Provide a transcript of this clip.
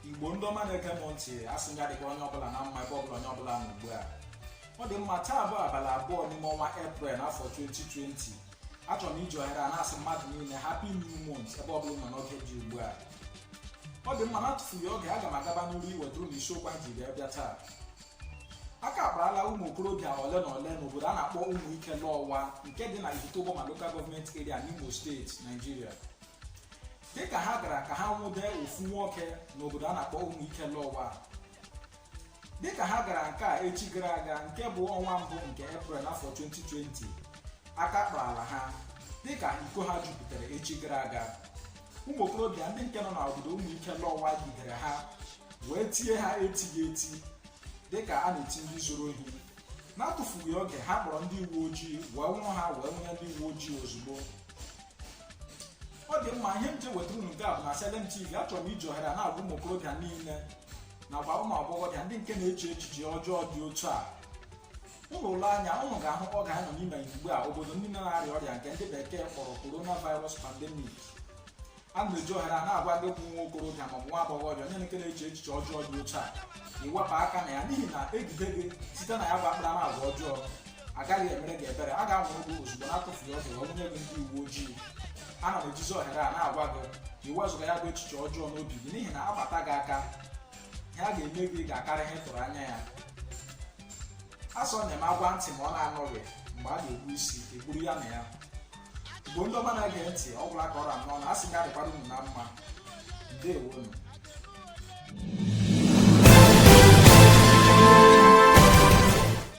igbo ndị ọma na-ege m ntị asị m ya dịkwa onye ọbụla na mma ebe ọbụla onye ọbụla nọ ugbu a ọ dị mma taa bụ abalị abụọ n'ime ọnwa eprel n'afọ 2020 achọrọ m iji ohere a na-asị mmadụ niile happy new month ebe ọbụla nọ n'oge dị ugbu a ọ dị mma na-atụfughị oge aga m agaba n'iru iwetara unu isiokwu anyị ji wee bịa taa aka akparala ụmụ okorobịa ole na ole n'obodo a na-akpọ ụmụ ike lọwa nke dị na Ihitte Uboma Local Government Area n'Imo steeti Nigeria dịka ha gara ka ha nwụde ofu nwoke n'obodo a na-akpọ ụmụ ike lọwa dịka ha gara nke a echi gara aga nke bụ ọnwa mbụ nke Eprel afọ 2020 aka kparala ha dịka iko ha jupụtara echi gara aga ụmụ okorobịa ndị nke nọ n'obodo ụmụ ike lọwa jidere ha wee tie ha etighị eti dịka a na-eti ndị zuru ohi na-atụfughị oge ha kpọrọ ndị uwe ojii wee nwụrụ ha wee nwụnye ndị uwe ojii ozugbo ọ dị mma ihe m ji wetara unu nke a bụ na Salem TV achọrọ m iji ohere a na-agwa ụmụ okorobịa niile nakwa ụmụ agbọghọbịa ndị nke na-eche echiche ọjọọ dị otu a ụnụ lee anya ụnụ ga-ahụ oge anyị nọ n'ime ya ugbu a obodo niile na-arịa ọrịa nke ndị bekee kpọrọ coronavirus pandemic a na m eji ohere a na-agwa gị bụ nwa okorobịa ma ọ bụ nwa agbọghọbịa onye nke na-eche echiche ọjọọ dị otu a iwepụ aka na ya n'ihi na e jide gị site na ya bụ akparamagwa ọjọọ agaghị emere gị ebere a ga-anwụrụ gị ozugbo na-atụfughị oge wee nwụnye gị ndị uwe ojii a na m ejizi ohere a na-agwa gị ka i wezụga ya bụ echiche ọjọọ n'obi gị n'ihi na a kpata gị aka ihe a ga-eme gị ga-akarị ihe ị tụrụ anya ya a sị na a na-agwa ntị ma ọ na-anụghị mgbe a ga-egbu isi egburu ya na ya igbo ndị ọma na-ege ntị ọ gwụla ka ọ ra m n'ọnụ asị m ya dịkwara unu na mma ndeewonu